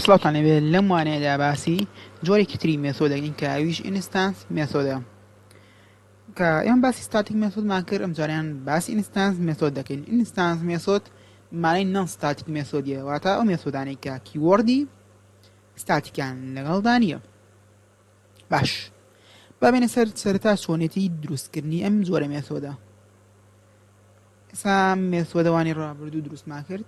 سڵاوتان لێبێ لەم وانەیەدا باسی جۆرێکی تری مێسۆد دەکەین کە ئەویش ئینستانس مێسۆدە کە ئێمە باسی ستاتیک مێسۆدمان کرد ئەم جاریان باسی ئینستانس مێسۆد دەکەین ئینستانس مێسۆد مانای نان ستاتیک مێسۆدیە واتە ئەو مێسۆدانەی کە کیوەردی ستاتیکان لەگەڵدا نییە باش بابێنە سەر سەرتا چۆنێتی دروستکردنی ئەم جۆرە مێسۆدە ئێسا مێسۆدەوانی ڕابردوو دروستمان کرد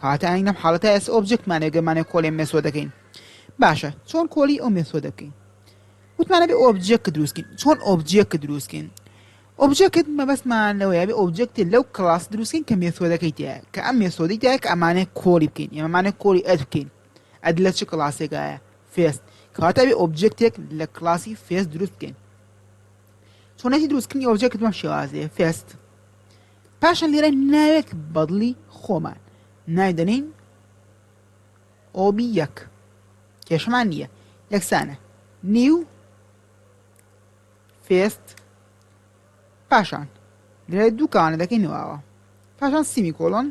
کەواتە ئاین لەم حاڵەتە ئێستا ئۆبجێکتمان هەیە گەر مانای کۆڵی ئەم مێسۆدە کەین باشە چۆن کۆلی ئەو مێسۆدە بکەین وتمان ئەبێ ئۆبجێکت دروست کەین چۆن ئۆبجێکت دروست کەین ئۆبجێکت مەبەستمان لەوەیە بێ ئۆبجێکت لەو کڵاس دروست کەین کە مێسۆدەکەی تایە کە ئەم مێسۆدەی تایە کە ئەمانەیە کۆڵی بکەین ئێمەمانە کۆڵی ئەد بکەین ئەد لە چ کڵاسێکایە فێست کەواتە بێ ئۆبجێکتێک لە کڵاسی فێست دروست بکەین چۆنێتی دروستکردنی ئۆبجێکت بەم شێوازەیە فێست پاشان لێرە ناوێک بەدڵی خۆمان ناوی دەنین ئۆبی یەک کێشمان نییە یەکسانە نیو فێست پاشان لێرە دوو کاوانە دەکەی نواوە پاشان سیمی کۆلۆن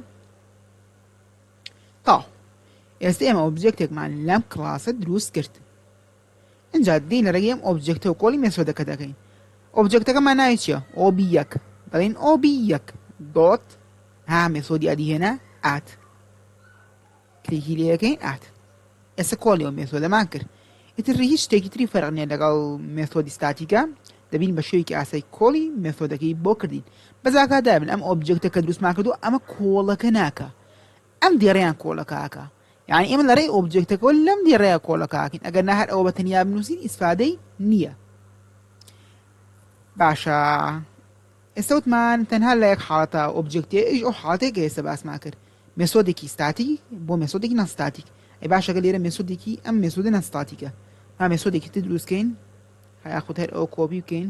تاو ئێستا ئێمە ئۆبجێکتێکمان لەم کلاسە دروست کرد ئینجا دێین لە ڕێگەی ئەم ئۆبجێکتە و کۆڵی مێسۆدەکە دەکەین. ئۆبجێکتەکە مانای چیە؟ ئۆ بی یەک. دەڵێین ئۆ بی یەک دۆت ها مێسۆدی ئەدی هێنا ئات. کلیکی لێ یەکەین ئات. ئێستا کۆڵی ئەو مێسۆدەمان کرد. ئیتر هیچ شتێکی تری فەرق نیە لەگەڵ مێسۆدی ستاتیکە دەبین بە شێوەیەکی ئاسای کۆڵی مێسۆدەکەی بۆ کردین بەس ئاگاداربن ئەم ئۆبجێکتە کە دروستمان کردو ئەمە کۆڵەکە ناکە ئەم دێڕیان کۆڵەکە ئەکا یانی ئێمە لە رێی ئۆبجێکتەکەوە لەم دێڕەیە کۆڵەکاکەین ئەگەر نا هەر ئەوە بە تەنیا بنووسین ئیسفادەی نییە باشە ئێستا وتمان تەنها لە یەک حاڵەتە ئۆبجێکتی ئیش ئەو حاڵەتێک کە ئێستا باسمان کرد مێسۆدێکی ستاتی بۆ مێسۆدێکی نەستاتیک ئەی باشەکە لێرە مێسۆدێکی ئەم مێسۆدە نەستاتیکە ما مێسۆدێکی تر دروستکەین هەیاخود هەر ئەو کۆبی بکەین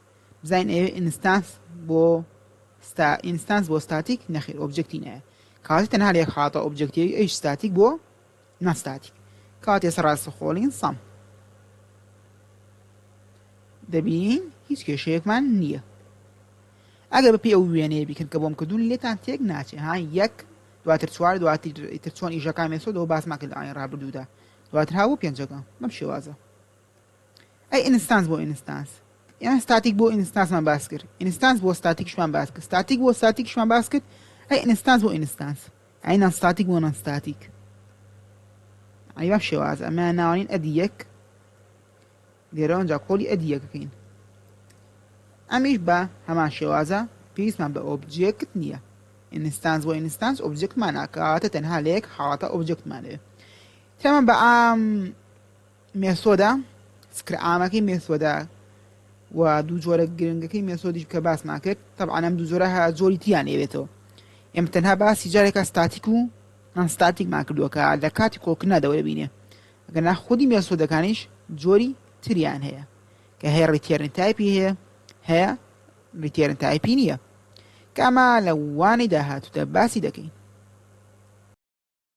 بزانین ئەوێ ئینستانس بۆ ستا ئینستانس بۆ ستاتیک نەخێر ئۆبجەکتی نایە کاتی تەنها لە یەک حاڵەتە ئۆبجەکتیوی ئەیش ستاتیک بۆ ناستاتیک کاتی ئێستا ڕاستە خۆڵین سەم دەبینین هیچ کێشەیەکمان نییە ئەگەر بەپی ئەو وێنەیە بیکەن کە بۆم کردوون لێتان تێک ناچێ ها یەک دواتر چوار دواتر چۆن ئیشەکان مێسۆدەوە باسمان کرد ئاین ڕابردوودا دواتر هاوو پێنجەکە بەم شێوازە ئەی ئینستانس بۆ ئینستانس یان ستاتیک بۆ ئینستانسمان باس کرد ئینستانس بۆ ستاتیکشمان باس کرد ستاتیک بۆ ستاتیکشمان باس کرد ئەی ئینستانس بۆ ئینستانس ئەی نان ستاتیک بۆ نان ستاتیک ئەی بەم شێواز ئەمە ناوانین ئەدی یەک لێرەوە ئەنجا کۆلی ئەدی یەکەکەین ئەمیش بە هەمان شێوازە پێویستمان بە ئۆبجێکت نییە ئینستانس بۆ ئینستانس ئۆبجێکتمان ناکاتە تەنها لە یەک حاڵەتە ئۆبجێکتمانەوێت تەمە بە ئام مێسۆدە سکرە عامەکەی مێسۆدە و دوو جۆرە گرنگەکەی مێسۆدیش کە باسمان کرد تەبعا ئەم دوو جۆرە هە جۆری تیان لێبێتەوە ئێمە تەنها باسی جارێکە ستاتیک و ئەنستاتیکمان کردووە کە لە کاتی کۆکردنا دەوەبینێ گەنا خودی مێسۆدەکانیش جۆری تریان هەیە کە هەیە ڕیتێرن تایپی هەیە هەیە ڕیتێرن تایپی نییە کاما لە وانەی داهاتوودا باسی دەکەین